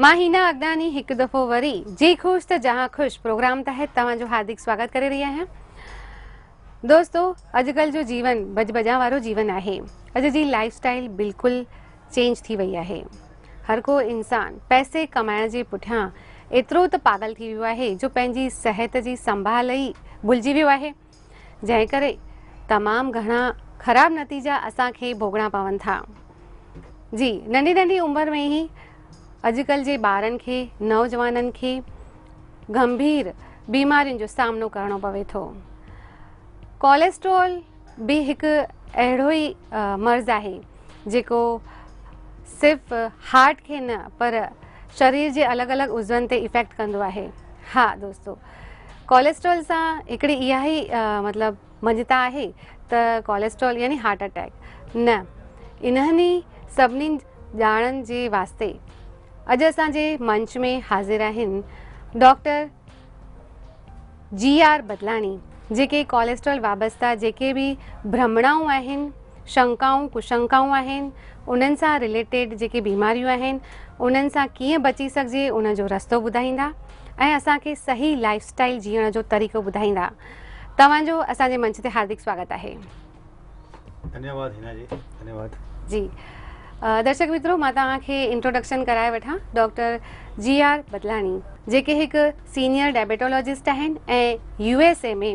مان هينا اڳناني هڪ دفعو وري جي خوش ته جهان خوش پروگرام تحت توهان جو هاردڪ سواگت ڪري رهي آهيان دوستو اڄڪلھ جو جيون بج بجان وارو جيون آهي اڄ جي لائف اسٽائل بلڪل چينج ٿي وئي آهي هر ڪو انسان پئسي ڪمائڻ جي پٺيان ايترو ته پاگل ٿي ويو آهي جو پنهنجي صحت جي سنڀال ئي بلجي ويو آهي جنهن ڪري تمام گهڻا خراب نتيجا اسان کي ڀوڳڻا پون ٿا جي ننڍي ننڍي عمر ۾ ئي اڄڪلھ جي ٻارن کي نوجوانن کي گنڀير بيمارين جو سامنو ڪرڻو پوي ٿو ڪوليسٽرول به هڪ اهڙو ئي مرض آهي جيڪو صرف هارٽ کي نه پر شرير جي الڳ الڳ عضون تي افيڪٽ ڪندو آهي ها دوستو ڪوليسٽرول سان هڪڙي اها ئي مطلب مڃتا آهي ته ڪوليسٽرول يعني هارٽ اٽيڪ نه انهن ئي سڀني ڄاڻن جي واسطي اڄ اسان جي منچ ۾ حاضر آهن ڊاڪٽر جي آر بدلاڻي جيڪي ڪوليسٽرول وابسته جيڪي به برهمڻائون آهن شنڪائون، ڪشنڪائون آهن، انهن سان رليٽيڊ جيڪي بيماريون آهن انهن سان ڪيئن بچي سگهجي ان جو رستو ٻڌائيندا ۽ اسان کي صحيح لائيف اسٽائيل جيئڻ جو طريقو ٻڌائيندا. توهان جو اسان جي منچ تي هاردڪ سواگت آهي. ڌنيا واد هينا جي ڌنيا واد. جي درشڪ مترو مان توهان کي انٽروڊڪشن ڪرائي وٺان ڊاڪٽر جي آر بدلاڻي جيڪي هڪ سينيئر ڊائبيٽالاجسٽ آهن ۽ يو ايس اي ۾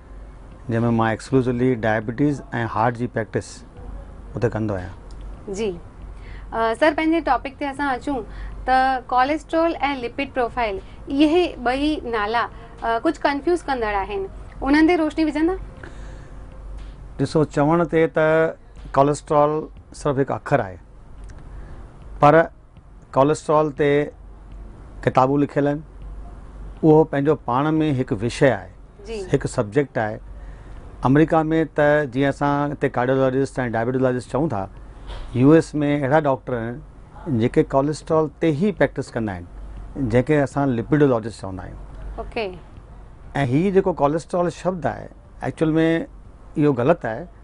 جنهن ۾ مان ايڪسڪلوسولي ڊائبيٽيز ۽ هارٽ جي پريڪٽس اتي ڪندو آهيان جي سر پنهنجي ٽاپڪ تي اسان اچون ته ڪوليسٽرول ۽ لپيڊ پروفائل اهي ٻئي نالا ڪجهه ڪنفيوز ڪندڙ آهن انهن تي روشني وجهندا ڏسو چوڻ تي ته ڪوليسٽرول صرف هڪ اکر آهي پر ڪوليسٽرول تي ڪتابون لکيل آهن اهو پنهنجو پاڻ ۾ هڪ وشي آهي جي هڪ سبجيڪٽ آهي آمريڪا ۾ ته جيئن اسان هتي ڪارڊيولاجسٽ ۽ ڊائبيٽولاجسٽ چئون ٿا يو ايس ۾ اهڙا ڊاڪٽر آهن جيڪي ڪوليسٽرول تي هي پريڪٽس ڪندا آهن جنهن کي اسان لپيڊولاجسٽ چوندا آهيون اوڪي ۽ هي جيڪو ڪوليسٽرول شبد آهي ايڪچوئل ۾ اهو غلط آهي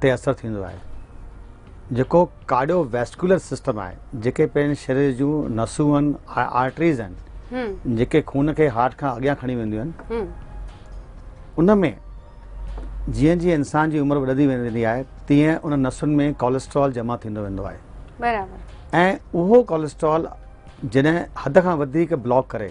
تي اثر ٿيندو آهي جيڪو ڪارڊيو ويسڪولر سسٽم آهي جيڪي پنهنجي شرير جون نسون آهن آرٽريز آهن جيڪي خون کي هارٽ کان اڳيان کڻي وينديون آهن ان ۾ جيئن جيئن انسان جي عمر وڌندي ويندي آهي تيئن ان نسن ۾ ڪوليسٽرول جمع ٿيندو ويندو آهي برابر ۽ اهو ڪوليسٽرول جڏهن حد کان وڌيڪ بلاڪ ڪري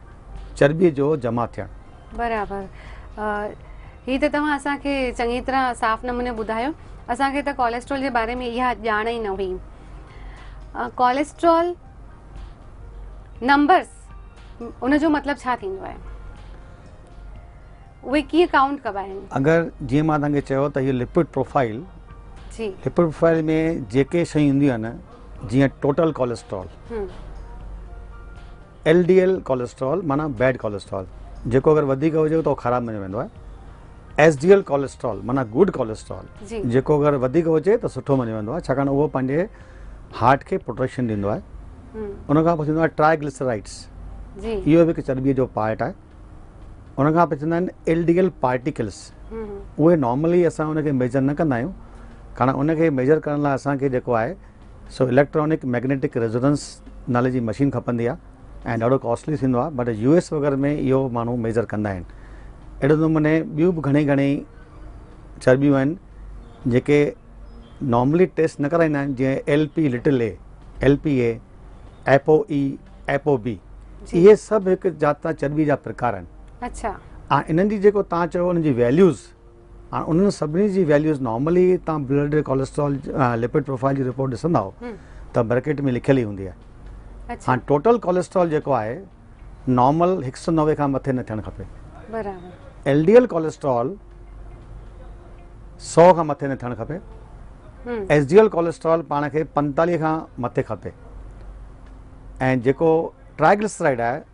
چرٻيء جو جمع ٿيڻ. برابر هي ته توهان اسان کي چڱي طرح صاف نموني ٻڌايو اسان کي ته ڪوليسٽرول جي باري ۾ اها ڄاڻ ئي نه هئي ڪوليسٽرول نمبرس ان جو مطلب ڇا ٿيندو آهي اهي ڪيئن ڪائونٽ ڪبا آهن اگر جيئن مان توهان کي چيو ته هي لپڊ پروفائل جي لپڊ پروفائل ۾ جيڪي شيون اينديون آهن جيئن total cholesterol L D L cholesterol معنيٰ بيڊ ڪوليسٽرول جيڪو اگر وڌيڪ هجي ته اهو خراب مڃيو ويندو آهي. ايس ڊي ايل ڪوليسٽرول معنيٰ گڊ ڪوليسٽرول جيڪو اگر وڌيڪ هجي ته سٺو مڃيو ويندو آهي ڇاڪاڻ اهو پنهنجي هارٽ کي پروٽيڪشن ڏيندو آهي. ان کان پوء ٿيندو آهي ٽرائي گليسرائيڊس اهو به هڪ چرٻيء جو پارٽ آهي. ان کان پوء ٿيندا آهن ايل ڊي ايل پارٽيڪلس اهي نارملي اسان ان کي ميجر نه ڪندا آهيون ڪاڻ ان کي ميجر ڪرڻ لاء اسان کي جيڪو آهي سو اليڪٽرانڪ ميگنيٽڪ ريزوننس نالي جي مشين کپندي آهي ۽ ڏاڍو ڪاسٽلي ٿيندو آهي بٽ يو ايس وغيره ۾ اهو ماڻهو ميجر ڪندا آهن اهڙي نموني ٻيون به گهڻي گهڻي چربيون آهن جيڪي نارملي ٽيسٽ نه ڪرائيندا آهن جيئن L P little A L P A apo A apo B اهي سڀ هڪ جات جا چربي جا پرڪار آهن اچھا انهن جي جيڪو تان چيو انهن جي ويليوز هاڻ انهن سڀني جي ويليوز نارملي تان بلڊ ڪوليسٽرول لپڊ پروفائل جي رپورٽ ڏسندا ته برڪيٽ ۾ لکيل ئي هوندي آهي اچھا هاڻ ٽوٽل ڪوليسٽرول جيڪو آهي نارمل 190 کان مٿي نه ٿيڻ کپي برابر ايل ڊي ايل ڪوليسٽرول 100 کان مٿي نه ٿيڻ کپي ايس ڊي ايل ڪوليسٽرول پاڻ کي 45 کان مٿي کپي ۽ جيڪو ٽرائگلسرائيڊ آهي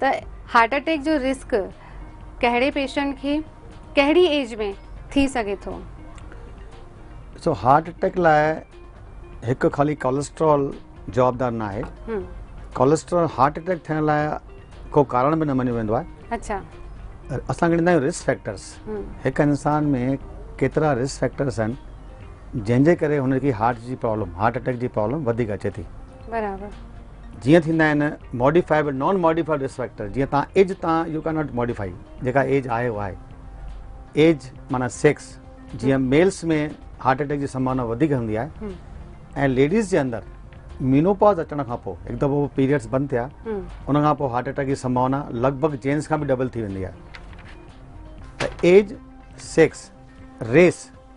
ته هارٽ اٽيڪ جو رسڪ ڪهڙي پيشنٽ کي ڪهڙي ايج ۾ ٿي سگهي ٿو؟ ڏسو هارٽ اٽيڪ لاء هڪ خالي ڪولسٽرول جوابدار نه آهي ڪولسٽرول هارٽ اٽيڪ ٿيڻ لاء ڪو ڪارڻ به نه مڃيو ويندو آهي اچا اسان کڻيندا آهيون رسڪ فيڪٽرس هڪ انسان ۾ ڪيترا رسڪ فيڪٽرس آهن جنهن جي ڪري هن کي هارٽ جي پرابلم هارٽ اٽيڪ جي پرابلم وڌيڪ اچي ٿي برابر جيئن ٿيندا آهن ماڊيفائيبل نان ماڊيفائيبل رسڪ فيڪٽر جيئن تان ايج تان يو ڪين ناٽ ماڊيفائي جيڪا ايج آهي اها آهي ايج مانا سيڪس جيئن ميلس ۾ هارٽ اٽيڪ جي سمبھاونا وڌيڪ هوندي آهي ۽ ليڊيز جي اندر مينوپاز اچڻ کان پوء هڪ دفعو پيريڊس بند ٿيا ان کان پوء هارٽ اٽيڪ جي سمبھاونا لڳ ڀڳ جينس کان به ڊبل ٿي ويندي آهي ته age sex race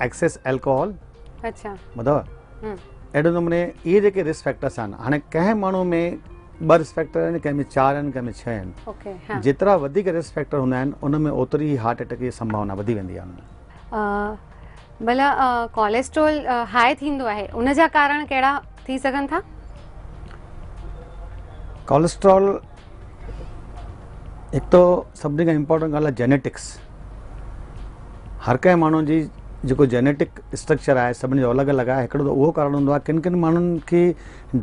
excess alcohol اچھا ٻڌو اهڙي نموني اهي جيڪي رسڪ فيڪٽرس آهن هاڻي ڪنهن ماڻهو ۾ ٻه رسڪ فيڪٽر آهن ڪنهن ۾ چار آهن ڪنهن ۾ ڇهه آهن جيترا وڌيڪ رسڪ فيڪٽر هوندا آهن ان ۾ اوتري ئي هارٽ اٽيڪ جي سمڀاونا وڌي ويندي آهي ڀلا ڪوليسٽرول هاء ٿيندو آهي ان جا ڪارڻ ڪهڙا ٿي سگهن ٿا. ڪوليسٽرول هڪ ته سڀني کان امپورٽنٽ ڳالهه آهي جينيٽڪس هر ڪنهن ماڻهو جي جيڪو جينيٽڪ اسٽرڪچر آهي سڀني جو الڳ الڳ آهي هڪڙو ته اهو ڪارڻ هوندو آهي ڪن ڪن ماڻهن کي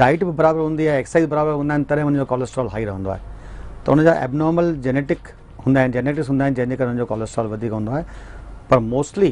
ڊائٽ به برابر هوندي آهي ايڪسرسائز برابر هوندا آهن تڏهن هن جو ڪوليسٽرول هائي رهندو آهي ته هن جا ايبنارمل جينيٽڪ هوندا آهن جينيٽڪس هوندا آهن جنهن جي ڪري هن جو ڪوليسٽرول وڌيڪ هوندو آهي پر موسٽلي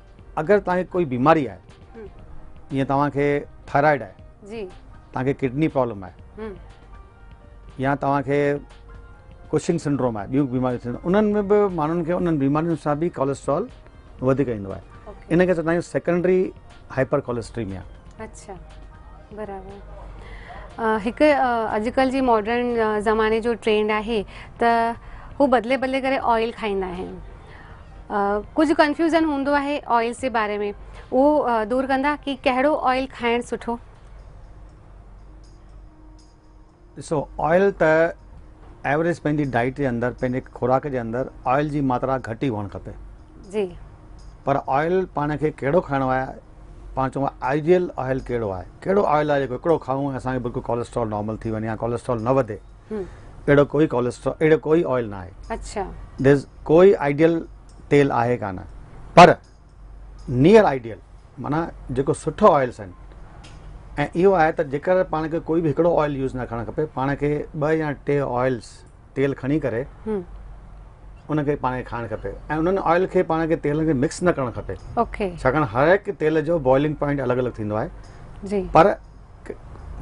اگر تانکي ڪوئي بيماري آهي جيئن توهانکي ٿائرائيڊ آهي جي تانکي ڪڊني پرابلم آهي يا توهانکي ڪشنگ سنڊروم آهي ٻيون بيماريون ٿينديون انهن ۾ به ماڻهن کي انهن بيمارين سان به ڪوليسٽرول وڌيڪ ايندو آهي ان کي چوندا آهيون سيڪنڊري هائپر ڪوليسٽريميا اچھا برابر هڪ اڄڪلھ جي ماڊرن زماني جو ٽرينڊ آهي ته هو بدلي بدلي ڪري آئل کائيندا آهن ڪجهه ڪنفيوزن هوندو آهي آئلس جي باري ۾ اهو دور ڪندا ڪي ڪهڙو آئل کائڻ سٺو ڏسو آئل ته ايوریج پنهنجي ڊائيٽ جي اندر پنهنجي خوراڪ جي اندر آئل جي ماترا گهٽ ئي هئڻ کپي جي پر آئل پاڻ کي کيڙو کائڻو آهي پاڻ چون آئيڊيل آئل کيڙو آهي کيڙو آئل آهي جيڪو هڪڙو کائون اسان کي بالڪل ڪوليسٽرول نارمل ٿي وڃي يا ڪوليسٽرول نه وڌي اهڙو ڪوئي ڪوليسٽرول اهڙو ڪوئي آئل نه آهي اڇا ديز ڪوئي آئيڊيل تيل آهي ڪا نه پر نيئر آئيڊيل مانا جيڪو سٺو آئلس آهن ۽ اهو آهي ته جيڪر پاڻ کي ڪوئي به هڪڙو آئل يوز نه کڻڻ کپي پاڻ کي ٻه يا ٽي آئلس تيل کڻي ڪري ان کي پاڻ کي کائڻ کپي ۽ انهن آئل کي پاڻ کي تيل کي مڪس نه ڪرڻ کپي ڇاڪاڻ هر هڪ تيل جو بوائلنگ پوائنٽ الڳ الڳ ٿيندو آهي جي پر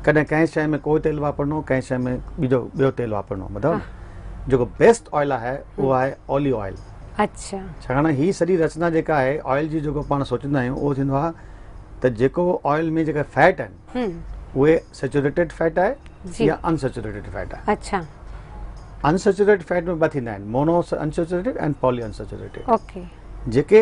ڪڏهن ڪنهن شيء ۾ ڪو تيل واپرڻو ڪنهن شيء ۾ ٻيجو ٻيو تيل واپرڻو ٻڌو نه جيڪو بيسٽ آئل آهي اهو آهي اوليو آئل اچھا ڇاڪاڻ هي سڄي رچنا جيڪا آهي آئل جي جيڪو پاڻ سوچيندا آهيون اهو ٿيندو آهي ته جيڪو آئل ۾ جيڪا فيٽ آهن اهي سيچوريٽيڊ فيٽ آهي يا انسيچوريٽيڊ فيٽ آهي اچھا انسيچوريٽيڊ فيٽ ۾ ٻه ٿيندا آهن mono unsaturated ۽ poly unsaturated okay جيڪي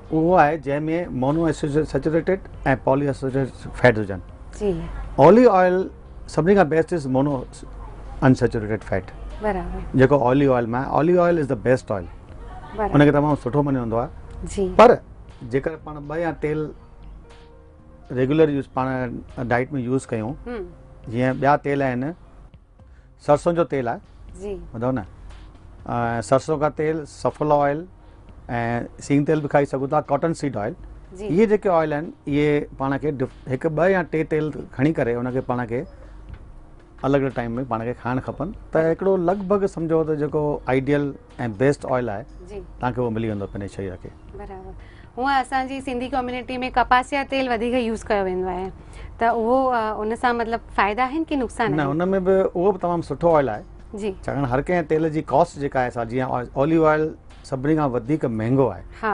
اهو آهي جنهن ۾ مونو اسيسيچوريٽيڊ ۽ پالي اسيسيچوريٽيڊ فيٽس هجن جي اولي آئل سڀني کان best is mono unsaturated fat برابر جيڪو اولي آئل مان olive oil is the best oil ان کي تمام سٺو مڃيو ويندو آهي جي پر جيڪر پاڻ ٻه يا تيل ريگولر يوز پاڻ ڊائٽ ۾ يوز ڪيون جيئن ٻيا تيل آهن سرسون جو تيل آهي جي ٻڌو نه سرسون کا تيل سفل آئل ۽ سين تيل به کائي سگهو ٿا ڪاٽن سيڊ آئل اهي جيڪي آئل آهن اهي پاڻ کي هڪ ٻه يا ٽي تيل کڻي ڪري ان کي پاڻ کي الڳ الڳ ٽائيم ۾ پاڻ کي کائڻ کپن ته هڪڙو لڳ ڀڳ سمجهو ته جيڪو آئيڊيل ۽ بيسٽ آئل آهي جي توهان کي اهو ملي ويندو پنهنجي شرير کي برابر هونء اسان جي سنڌي ڪميونٽي ۾ ڪپاس يا تيل وڌيڪ يوز ڪيو ويندو آهي ته اهو ان سان مطلب فائدا آهن ڪي نقصان نه ان ۾ به اهو به تمام سٺو آئل آهي جي ڇاڪاڻ هر ڪنهن تيل جي ڪاسٽ جيڪا آهي سا جيئن اوليو آئل سڀني کان وڌيڪ مهنگو آهي ها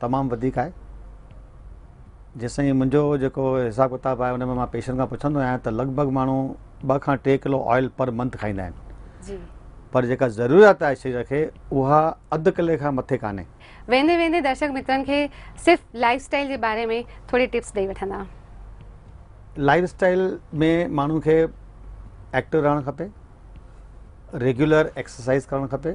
تمام وڌيڪ آهي. جيسين منهنجو جيڪو حساب ڪتاب آهي ان ۾ مان پيشنٽ کان پڇندو آهيان ته لڳ ڀڳ ماڻهو ٻه کان ٽي ڪلو آئل پر منٿ کائيندا آهن جي پر جيڪا ضروريات آهي شرير کي اها اڌ ڪلي کان مٿي ڪانهي. ويندي ويندي درشڪ مترن کي صرف لائف اسٽائل جي باري ۾ ٿوري ٽپس ڏئي وٺندا. لائف اسٽائل ۾ ماڻهو کي ايڪٽو رهڻ کپي، ريگيولر ايڪسرسائز ڪرڻ کپي.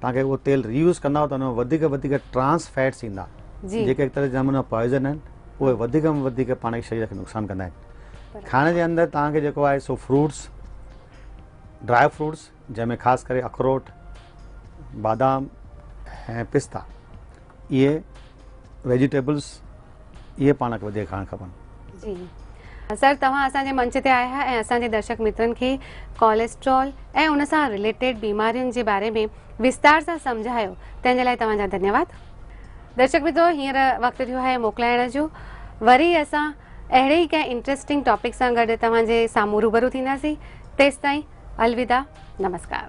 توهان کي اهو تيل ري يوز ڪنداو ته ان ۾ وڌيڪ وڌيڪ ٽرانس فيٽس ايندا جيڪي هڪ طرح جي نموني پوائزن آهن اهي وڌيڪ ۾ وڌيڪ پاڻ کي شرير کي نقصان ڪندا آهن کائڻ جي اندر توهان کي جيڪو آهي سو فروٽس ڊرائي فروٽس جنهن ۾ خاص ڪري اخروٽ بادام ۽ پستا اهي ويجيٽيبلز اهي پاڻ کي وڌيڪ کائڻ کپن جي سر توهان اسان جي منچ تي آيا ۽ اسان جي درشڪ مترن کي ڪوليسٽرول ۽ ان سان ريليٽيڊ بيمارين جي باري ۾ وستار سان سمجهايو تنهن جي لاء توهان جا ڌنيواد درشڪ مترو هينئر وقت ٿيو آهي موڪلائڻ جو وري اسان اهڙي ئي ڪنهن انٽرسٽنگ ٽاپڪ سان گڏ توهان جي سامهون روبرو ٿينداسين تيستائين الوداع نمسڪار